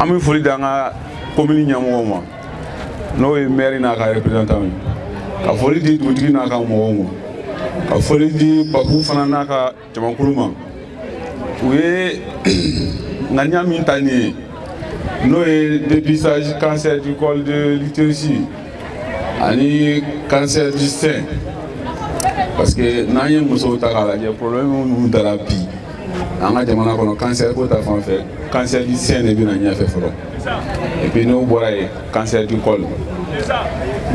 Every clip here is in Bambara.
an bɛ foli di an ka komini ɲɛmɔgɔ ma n'o ye mɛri n'a ka représentant ye ka foli di dugutigi n'a ka mɔgɔw ma ka foli di Babu fana n'a ka jamakulu ma u ye ŋaniya min ta nin ye n'o ye dépistage cancer du col de l'utérus ani cancer du sein parce que n'an ye musow ta k'a lajɛ problème minnu dara bi an ka jamana kɔnɔ cancer ko ta fan fɛ cancer du sein de bɛ na ɲɛfɛ fɔlɔ et puis n'o bɔra yen cancer du col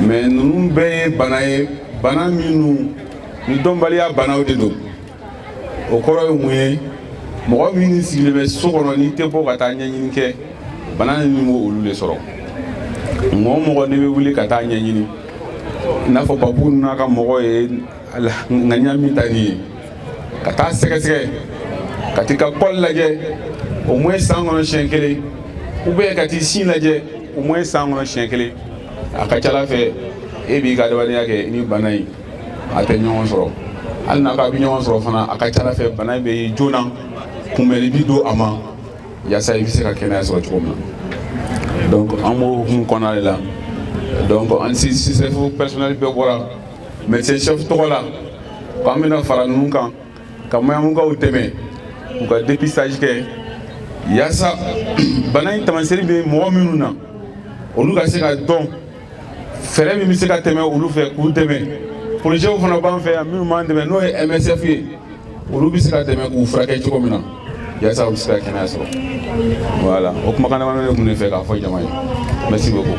mais ninnu bɛɛ ye bana ye bana minnu ni dɔnbaliya banaw de don o kɔrɔ ye mun ye mɔgɔ min sigilen bɛ so kɔnɔ n'i tɛ bɔ ka taa ɲɛɲini kɛ bana ninnu b'olu de sɔrɔ mɔgɔ o mɔgɔ n'i bɛ wuli ka taa ɲɛɲini i n'a fɔ Babu n'a ka mɔgɔ ye ŋaniya min ta nin ye ka taa sɛgɛsɛgɛ ka taa i ka col lajɛ au moins san kɔnɔ siyɛn kelen ou bien ka taa i sin lajɛ au moins san kɔnɔ siyɛn kelen a ka ca la fɛ e b'i ka adamadenya kɛ ni bana in a tɛ ɲɔgɔn sɔrɔ hali n'a ka bɛ ɲɔgɔn sɔrɔ fana a ka ca la fɛ bana in bɛ ye joona kunbɛnni bɛ don a ma yaasa i bɛ se ka kɛnɛya sɔrɔ cogo min na donc an b'o hukumu kɔnɔna de la donc an CSRéf personnel bɛɛ bɔra médecin chef tɔgɔ la ko an bɛna fara ninnu kan ka mayamukaw dɛmɛ u ka dépistage kɛ yaasa bana in taamaseri bɛ mɔgɔ minnu na olu ka se ka dɔn fɛɛrɛ min bɛ se ka tɛmɛ olu fɛ k'u dɛmɛ porozɛw fana b'an fɛ yan minnu b'an dɛmɛ n'o ye MSF ye olu bɛ se ka dɛmɛ k'u furakɛ cogo min na yaasa u bɛ se ka kɛnɛya sɔrɔ voilà o kumakan damadɔ de tun bɛ ne fɛ k'a fɔ jama ye merci beaucoup